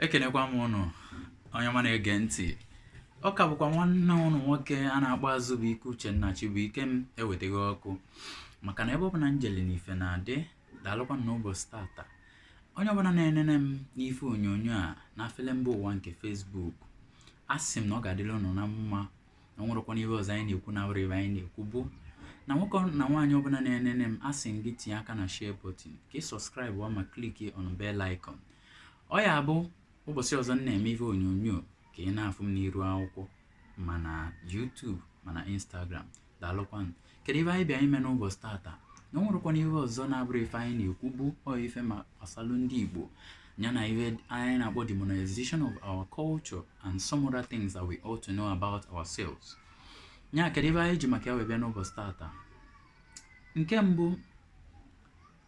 ekenekwa m ụnụ onye ọma na-ege ntị ọ ka bụkwa nwanne ụnụ nwoke a na-akpọ azụbụike uchenna chibuikem ewetaghị ọkụ maka na ebe ọ bụla m jeli na ife na-adị daalụkwa na ụbọchị tata onye ọbụla na-enene m n'ife onyonyo a na afele mba ụwa nke facebook a sị m na ọ ga-adịrị ụnụ na mma na ọ nwerekwana ihe ọzọ anyị na-ekwu na-abụrọ ife anyị na-ekwu bụ na nwoke na nwaanyị ọbụla na-enene m a sị m gị tinye aka na share button ka ị subscribe ma click on bell icon ọ ya-abụ ụbọchị ọzọ m na-eme ihe onyonyo ka ị na-afụ m n'iru akwụkwọ ma na YouTube ma na Instagram daalụkwanụ kedu ife anyị bịa ime n'ụbọchị tata na ọ nwerekwana ihe ọzọ na-abụrọ ife anyị na-ekwu bụ ọ ife ma gbasalụ ndị Igbo ya na ihe anyị na-akpọ demonization of our culture and some other things that we ought to know about ourselves ya kedu ife anyị ji maka ya wee bịa n'ụbọchị tata nke mbụ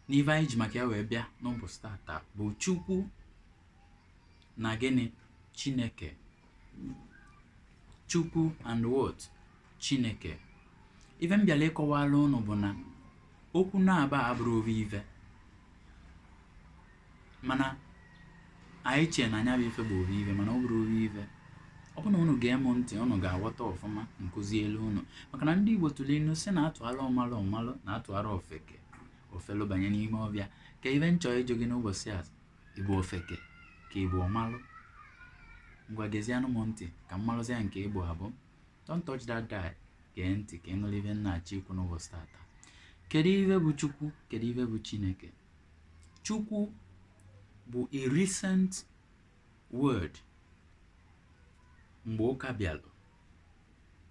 n'ife anyị ji maka ya wee bịa n'ụbọchị tata bụ chukwu na gịnị chineke chukwu and what chineke ife m bịara ịkọwara ụnụ bụ na okwu naabọ a abụrọ ofu ife mana anyị chee na nya bụ ife bụ ofu ife mana ọ bụrọ ofu ife ọ bụrụ na unu gee m ntị unu ga-aghọta ọfụma m kuzielu unu maka na ndị igbo tụrụ inu sị na a tụara ọmalụ ọ malụ na a tụara ofeke o felu banye n'ime ọfịa ka ife m chọ ịjụ gị n'ụbọchị a ị bụ ofeke ka ị bụ ọmalụ ngwa gezianụ m ntị ka m malụzia nke ị bụ abụ don't touch that dial gee ntị ka ị nụrụ ife m na-achọ ikwu n'ụbọchị tata kedu ife bụ chukwu kedu ife bụ chineke chukwu bụ a recent word mgbe ụka bịalụ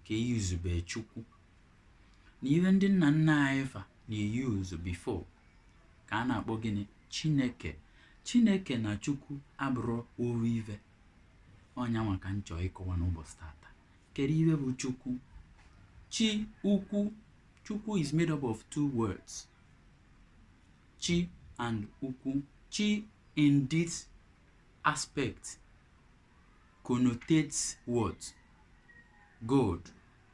ka e yuzube chukwu na ihe ndị nna nna anyị fa na-eyuzu before ka a na-akpọ gịnị chineke chineke na chukwu abụrọ ofu ive ọ nya nwa ka m chọọ ịkọwa n'ụbọchị tata kedu ihe bụ chukwu chi ukwu chukwu is made up of two words chi and ukwu chi in this aspect connotates what god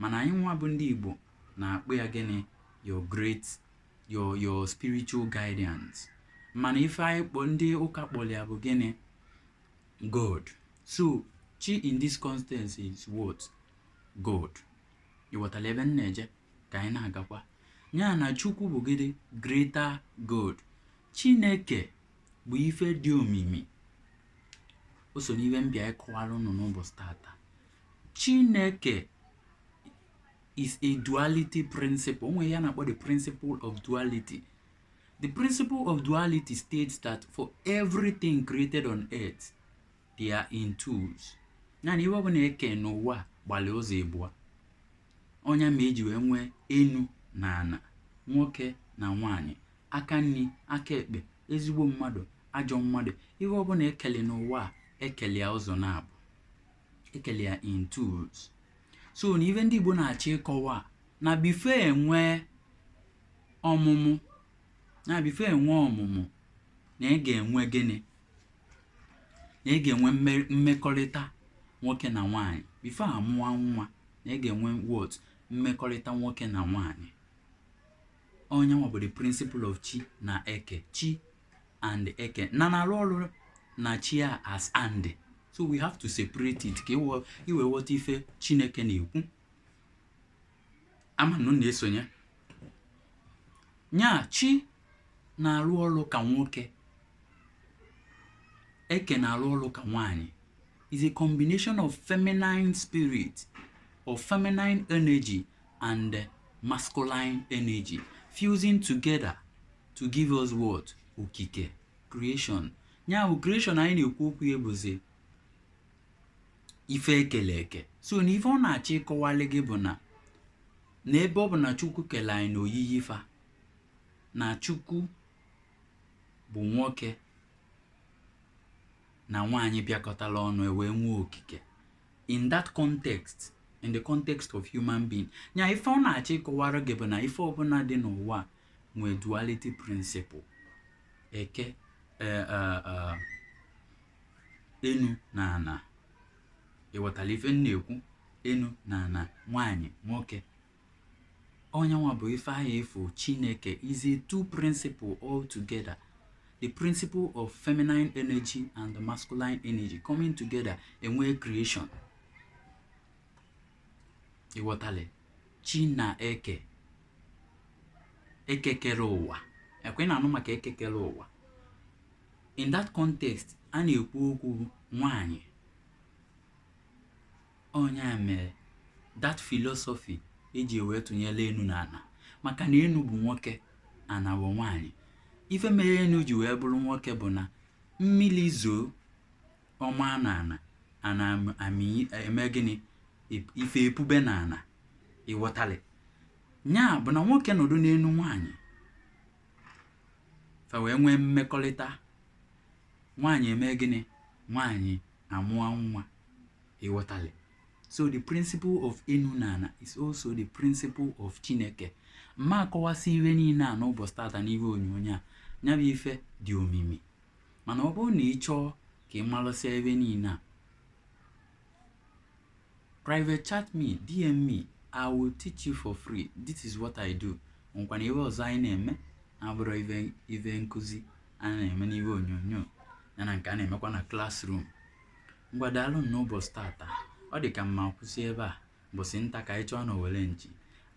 Mana anyị nwa bụ ndị Igbo na-akpọ ya gịnị your great your your spiritual guidance mana ife anyị kpọ ndị ụka kpọrọ ya bụ gịnị God so chi in this constance is what God ị ghọtara ebe m na-eje ka anyị na-agakwa ya na Chukwu bụ gịnị greater God Chineke bụ ife dị omimi o so n'ihe m bịa ịkọwara ụnụ n'ụbọchị tata Chineke is a duality principle. O nwere ihe a na-akpọ the principle of duality. The principle of duality states that for everything created on earth, they are in twos. Nya na ihe ọbụna e ke n'ụwa gbalị ụzọ ịbụọ. Ọ nya mere e ji wee nwee enu na ana, nwoke na nwanyị, aka nni, aka ekpe, ezigbo mmadụ, ajọ mmadụ. Ihe ọbụna e kele n'ụwa e kele ya ụzọ naabọ. e kele ya in twos so na ife ndị Igbo na-achọ ịkọwa na before e nwee ọmụmụ na before e nwee ọmụmụ na e ga-enwe gịnị na e ga-enwe mmekọlịta nwoke na nwaanyị before a mụwa nwa na e ga-enwe what mmekọlịta nwoke na nwaanyị ọ nyanwa bụ the principle of chi na eke chi and eke na na-alụ ọrụ na chi a as and so we have to separate it ka i wee ghọta ife chineke na-ekwu a ma unu na-esonye nya chi na-alụ ọlụ ka nwoke eke na-alụ ọlụ ka nwaanyị is a combination of feminine spirit or feminine energy and uh, masculine energy fusing together to give us what okike creation ya bụ creation anyị na-ekwu okwu ya bụzi ife e kele eke so na ife ọ na-achọ ịkọwalị gị bụ na n'ebe ọ bụ na chukwu kele anyị na oyiyi fa na chukwu bụ nwoke na nwaanyị bịakọtala ọnụ e wee nwee okike in that context in the context of human being nya ife ọ na-achọ ịkọwara gị bụ na ife ọbụna dị n'ụwa a nwee duality principle e ke eh, eh, eh, enu na ana ị ghọtala ife m na-ekwu enu na ana nwaanyị nwoke ọ nyanwa bụ ife ahụ ị fụ chineke is a two principle all together the principle of feminine energy and the masculine energy coming together e nwee creation ị ghọtala chi na eke eke kere ụwa ọ kwa ị na-anụ maka eke kere ụwa in that context a na-ekwu okwu nwanyị ọ nya mere that philosophy e ji wee tụnyere enu na ana maka na enu bụ nwoke ana bụ nwaanyị ife mere enu ji wee bụrụ nwoke bụ na mmili zoo ọ maa na ana ana amị eme gịnị ife epube na ana ị ghọtalị nya bụ na nwoke nọdụ n'enu nwaanyị fa wee nwee mmekọlịta nwaanyị eme gịnị nwaanyị amụọ nwa ị ghọtali so the principle of enu na ana is also the principle of chineke m ma akọwasị ihe niile a n'ụbọchị tata n'ihe onyonyo a ya bụ ife dị omimi mana ọ bụrụ na ị chọọ ka ị malụsịa ihe niile a private chat me dm me i will teach you for free this is what i do nkwana iwe ọzọ anyị na-eme abụrụ ive nkụzi a na-eme n'iwe onyonyo ya na nke a na-emekwa na classroom ngwa daalụ nụ n'ụbọchị tata ọ dị ka m ma akwụsị ebe a mbọsị nta ka anyị chụọ na owere nchi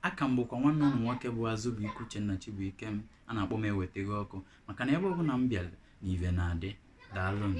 aka m bụkwa nwanne unu nwoke bụ azụbụike uchenna chibuikem a na-akpọ m ewetago ọkụ maka na ebe ọbụla m bịara na ive na-adị daalụ nụ